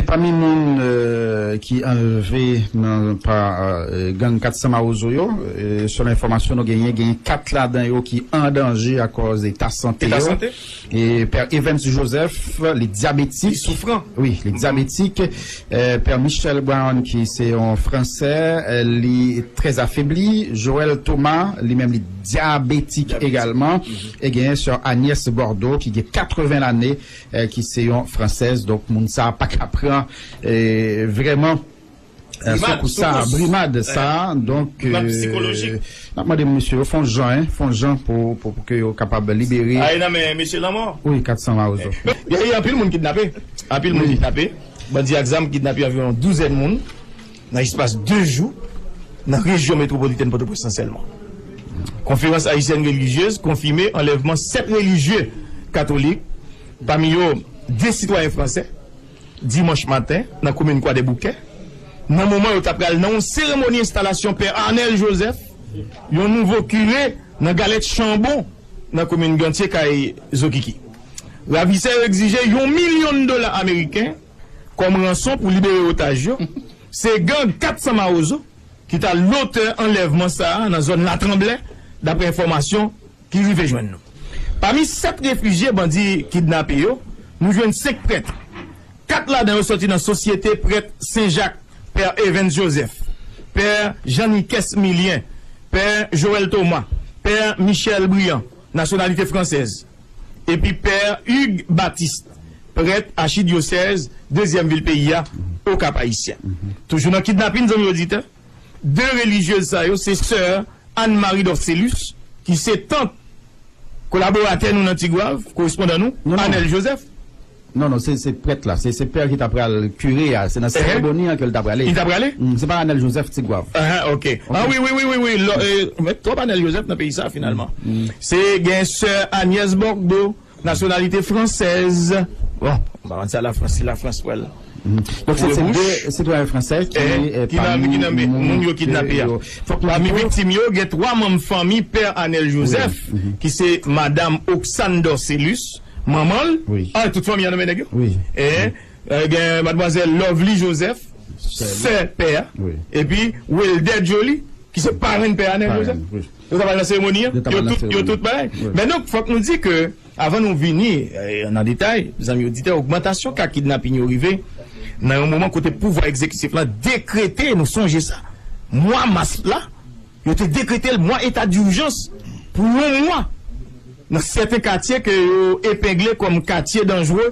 Pami moun ki anlve nan pa gang 400 mawozo yo, selon enfòmasyon nou genyen, genyen 4 ladan yo ki an danje akòz eta sante yo. Pè Evens Joseph, li dyabetik. Li soufran. Wi, li dyabetik. Pè Michel Brown ki se yon fransè, li trè afebli. Joel Thomas, li menm li dyabetik egalman. E genyen sè Agnès Bordeaux ki gen 80 lane, ki se yon fransèz donk moun sa pa ka pran vrèman soukous sa brimad sa donk n ap mande mesye yo fon jan fon jan pou ke yo kapab libere a ye nan men mesye lanmò wi 400 mawozo gen anpil moun kidnape anpil moun kidnape bandi ak zam kidnape anviwon douzèn moun. Nan espas 2 jou, nan rejyon metwopolitèn Pòtoprens lan sèlman, Konferans Ayisyèn Relijyez konfime anlèvman 7 relijye katolik, pami yo 2 sitwayen fransè, dimanch maten nan komin Kwadèboukè, nan moman yo ta pral nan yon seremoni enstalasyon Pè Arnel Joseph, yon nouvo kire nan Galèt Chanbon, nan komin Gantye kay Zokiki. Ravisè yo egzije yon milyon dola ameriken. kòm ranson pou libere otaj yo, se gang 400 Mawozo ki ta lotè anlèvman sa a nan zòn Latranblè, daprè enfòmasyon ki rive jwenn nou. Pami 7 refijye bandi kidnape yo, nou jwenn 5 prèt. 4 ladan yo sòti nan Sosyete Prèt Sen Jak, Pè Evens Joseph, Pè Jean Nicaise Milien, Pè Joël Thomas, Pè Michel Briand, nasyonalite fransèz. epi Pè Hugues Baptiste, prèt achidyosèz dezyèm vil peyi a, Okap-Ayisyen. Toujou nan kidnapin, zanmi oditè, 2 relijyez sa yo se sè Anne Marie Dorcélus ki se tant kolaboratè nou nan Tigwav, korespondan nou, Anel Joseph. Non non se se prèt la se se pè ki ta pral kire a se nan seremoni an ke l ta prale Li ta prale? Humm se pa Anel Joseph Tigwav Ahaa ok Ah wi wi wi wi lò e met twòp Anel Joseph nan peyi sa finalman Se gen sè Agnès Bordo nasyonalite fransèz bon m pa konn sa la Frans si la Frans pral Donk se se de sitwayen fransè ki ki nan ki nan moun yo kidnape a Pami viktim yo gen 3 manm fanmi pè Anel Joseph ki se madam Oxane Dorcélus Manman l? Ah tout fanmi an nan men nèg yo? Ehh gen madmwazèl Lovely Joseph sè pè a epi Wilder Joly ki se parenn pè a Neel Joseph yo ta pral nan seremoni an? Yo tout bagay men donk fòk nou di ke avan nou vini nan detay zanmi oditè ogmantasyon ka kidnaping yo rive nan yon moman kote pouvwa egzekitif lan dekrete nou sonje sa mwa mas la Yo te dekretel mwa eta durjans pou yon mwa nan sèten katye ke yo epengle kòm katye danjre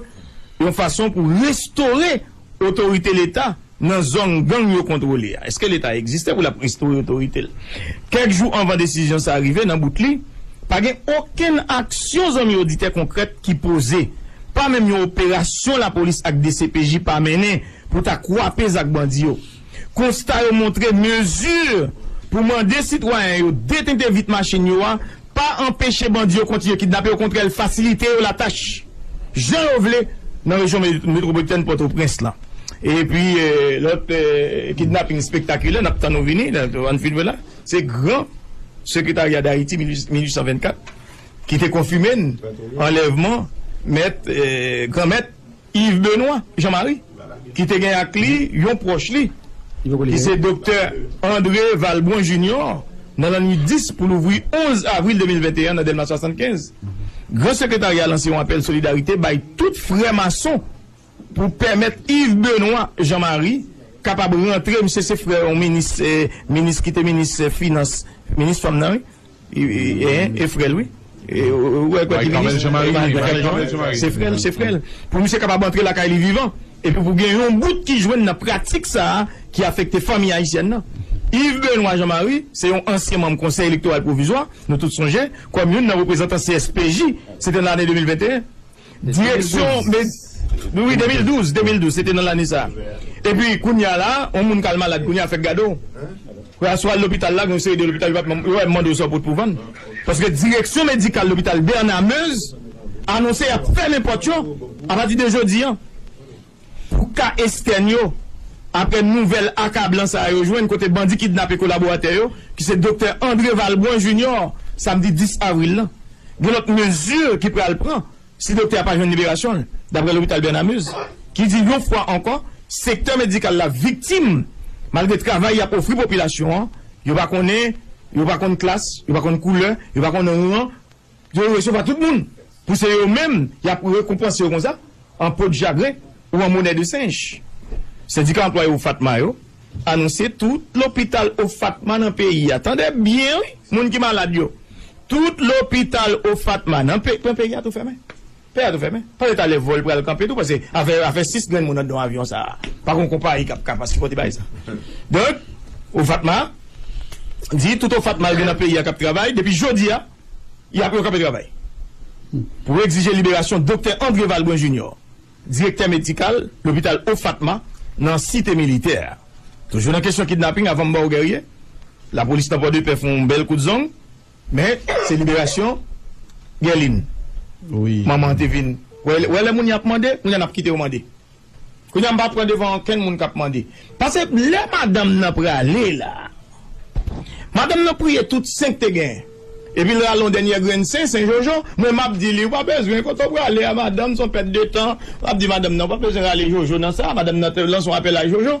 yon fason pou restore otorite leta nan zong gang yo kontwole a. Eske leta egziste pou lap restore otoritel? Kèk jou anvan desizyon sa rive nan bout li, pa gen okenn aksyon zanmi oditè konkrèt ki poze, pa menm yon operasyon lapolis ak dcpj pa mennen pou ta kwape zak bandi yo. Konsta yo montre mezi pou mande sitwayen yo detente vit machin yo a pa anpeche bandi yo kontinye kidnape, okontrè l fasilite yo latach jan yo vle nan rejyon metwopolitèn Pòtoprens lan. Epi lòt kidnaping spektakilè n ap tann ou vini la, an n filme la, se gran Sekretarya Dayiti 1824 ki te konfime n anlèvman mèt, gran mèt Yves Benoit Jean Marie ki te gen ak li yon pwòch li ki se doktè André Valbrun Junior nan lannwit 10 pou louvri 11 avril 2021 nan Dèlma 75. Gran Sekretarya a lanse yon apèl solidarite bay tout frè mason pou pèmèt Yves Benoit Jean Marie kapab rantre, misye se frè yon minis minis ki te minis finans minis fanm nan wi. E frèl wi. Mari kamèl jan mari li mari kamèl jan mari li. Se frèl se frèl. Pou misye kapab antre lakay li vivan. Epi pou gen yon bout ki jwenn nan pratik sa a ki afekte fanmi ayisyèn nan. Yves Benoît Jean Marie se yon ansyen manm konsèy elektoral pwovizwa, nou tout sonje, kòm youn nan reprezantan CSPJ, se te nan lane 2021. Direksyon Medikal Wi, wi, 2012, 2012, se te nan lane sa a. Epi, kounye a la a, yon moun k al malad kounye a fèk gade w. Ou a sou al lopital la, gen yon seri de lopital yo pa menm, yo menm mande w sa w pot pou vann. Paske direksyon medikal lopital Bernard Meuze anonse y ap fèmen pòt yo apati de jodi an. Pou ka estèn yo, aprè nouvèl akablan sa a yo jwenn kote bandi kidnape kolaboratè yo ki se doktè André Valbrun Junior samdi 10 avril lan, gen lòt mezi ki pral pran si doktè a pa jwenn liberasyon l, daprè lopital Bernamuz ki di yon fwa ankò sektè medikal la viktim malgre travay y ap ofri popilasyon an, yo pa konnen, yo pa konn klas, yo pa konn koulè, yo pa konn ran Yo resevwa tout moun pou se yo menm y ap rekonpanse yo konsa, an podjagren ou an monè de senj. Sendika anplwaye OFATMA yo anonse tout lopital OFATMA nan peyi a, tande byen wi moun ki malad yo, tout lopital OFATMA nan peyi a tou fèmen. Pè a tou fèmen. Panse talè vòl pral kanpe tou panse afè afè 6 grenn moun andan avyon sa a pa gon konpayi kap kap asipòte bagay sa donk ou fatma di tout ou fatma al gen nan peyi a kap travay depi jodi a yap yo kanpe travay pou egzije liberasyon doktè André Valbrun Junior direktè medikal lopital ou fatma nan site militè a toujou nan kesyon kidnaping avanm baw Guerrier lapolis nan pòdepè fon bèl kout zong Men se liberasyon Gèlin manman an te vin wè lè moun ap mande kounye a n ap kite yo mande kounye a m pa pran devan okenn moun k ap mande pase lè madanm nan prale la madanm nan priye tout sen k te gen epi l rale yon dènyè grenn sen sen jojo mwen m ap di li ou pa bezwen kote w prale a madanm se yon pèt de tan m ap di madanm nan ou pa bezwen rale jojo nan sa madanm nan te lanse yon apèl a jojo.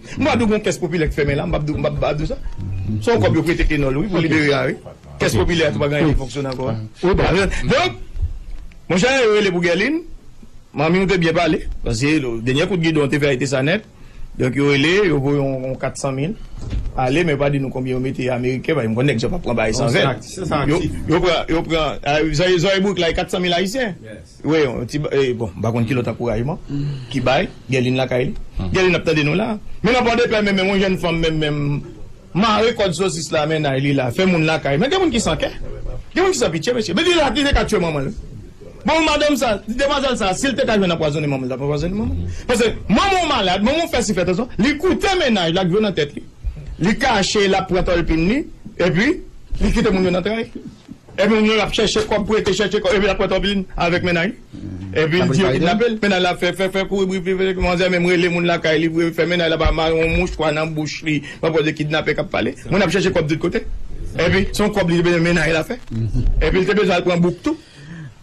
M pa di w gon kès popilè k fèmen la, m pa di w sa. Se yon kòb yo prete Kenòl wi pou libere a wi. Kès popilè a tou pa gen anyen ki fonksyone ankò a. Donk, monchè yo rele pou Gèlin, manmi w te byen pale, paske dènyè kout gidon te fè a e te sa nèt. Donk yo rele, yo voye yon 400 mil ale men yo pa di nou konbyen yo mete ameriken, paske m konn nèg sa yo p ap pran bagay san vèt. Yo pran, zòrye bourik la e 400 mil ayisyen. Wi yon ti bon mpa konn ki lòt ankourajman ki bay Gèlin lakay li Gèlin ap tande nou la men nan Pòdepè men menm yon jèn fanm men menm mare kòd sosis la mennaj li la fè moun lakay men gen moun ki san kè gen moun ki san pitye mesye men li la li te ka tye manmanl wi bon madanm sa demwazèl sa sil te ka jwenn anpwazone manmanl li tap anpwazone manmanl paske manman w malad manman w fè si fè sa li koute mennaj la ak dlo nan tèt li li kache lap pran tòlpin li epi li kite moun yo nan tray. Epi moun yo ap chèche kòb pou ete chèche kòb epi lap pran tonpilin avèk mennaj li epi l di yo kidnape l mennaj la ap fè fè fè kouri bri bri bri manzè menm rele moun lakay li vre fè mennaj la pa mare yon mouchwa nan bouch li pa pwòl de kidnapè kap pale moun ap chèche kòb tout kote epi son kòb li te bezwen mennaj la fè epi l te bezwen al pran bouk tou.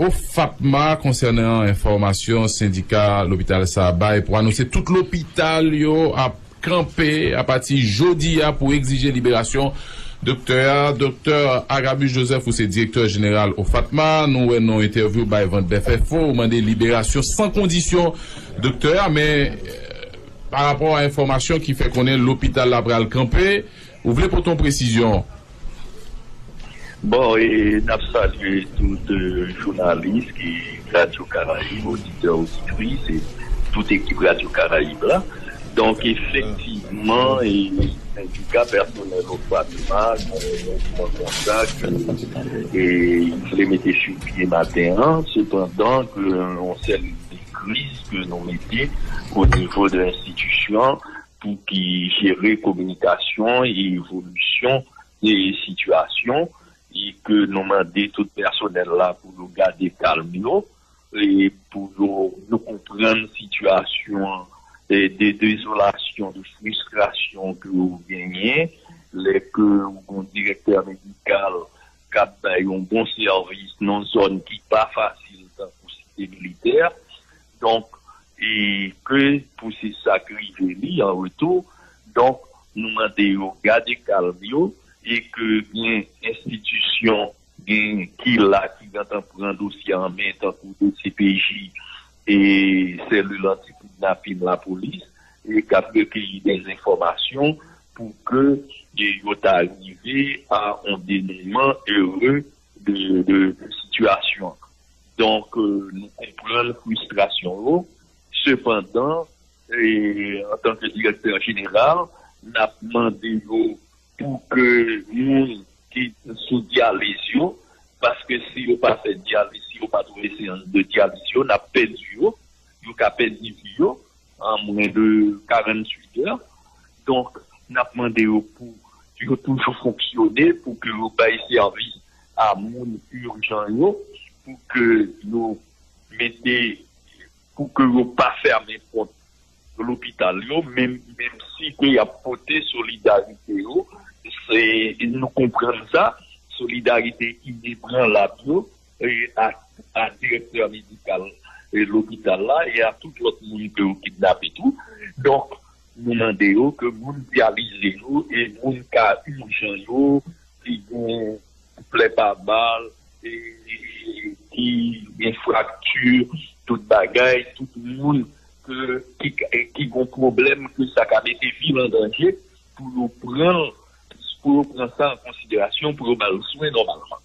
OFATMA konsènan enfòmasyon sendika lopital sa bay pou anonse tout lopital yo ap kanpe apati jodi a pou egzije liberasyon doktè a. Doktè Agabus Joseph ou se direktè jeneral OFATMA, nou wè nan yon entèvyou w bay Vanpdèfenfo ou mande liberasyon san kondisyon doktè a men pa rapò a enfòmasyon ki fè konnen lopital la pral kanpe ou vle pote yon presizyon. Bon e nap salye tout jounalis ki radyo karayib oditè oditris e tout ekip radyo karayib la donk efektivman e sendika pèsonèl ofwa pema gen yon mouvman konsa ke e yo vle mete sou pye maten an sepandan ke yon sèl de kriz ke nou mete onivo de enstitisyon Pou ki jere kominikasyon e evolisyon e sitiyasyon e ke nou mande tout pèsonèl la pou yo gade kalm yo e pou yo yo konprann sitiyasyon an e de dezolasyon, de fristrasyon ke ou genyen lè ke ou gon direktè medikal k ap bay yon bon sèvis nan zòn ki pa fasil tankou Site Militè. Donk, e ke pou se sa k rive li an retou, donk nou mande yo gade kalm yo, e ke gen enstitisyon gen ki la ki gentan pran dosye a an men tankou dcpj e selil anti kidnapin lapolis e k ap rekeyi dè enfòmasyon pou ke yo ta rive a on denouman ere de sitiyasyon an. Donk nou konprann fristrasyon yo, sepandan antanke direktè jeneral n ap mande yo pou ke moun ki sou dyaliz yo, paske si yo pa fè dyaliz, si yo pa twouve seyans de dyaliz yo n ap pèdi yo, yo ka pèdi vi yo. an mwen de 48 èr donk nap mande yo pou yo toujou fonksyone pou ke yo bay sèvis a moun urjan yo pou ke yo mete pou ke yo pa fèmen pòt lopital yo menm si ke yap pote solidarite yo se nou konprann sa solidarite inebranlab yo. a direktè medikal lopital la e a tout lòt moun ke yo kidnape tou. Donk, nou mande yo ke moun ki avize yo e moun ka ijan yo, ki gen plè pa bal, ki gen frakti, tout bagay, tout moun ki gen pwoblèm ke sa ka mete vi l an danje, pou yo pran sa an konsiderasyon pou yo ba l swen nòmalman.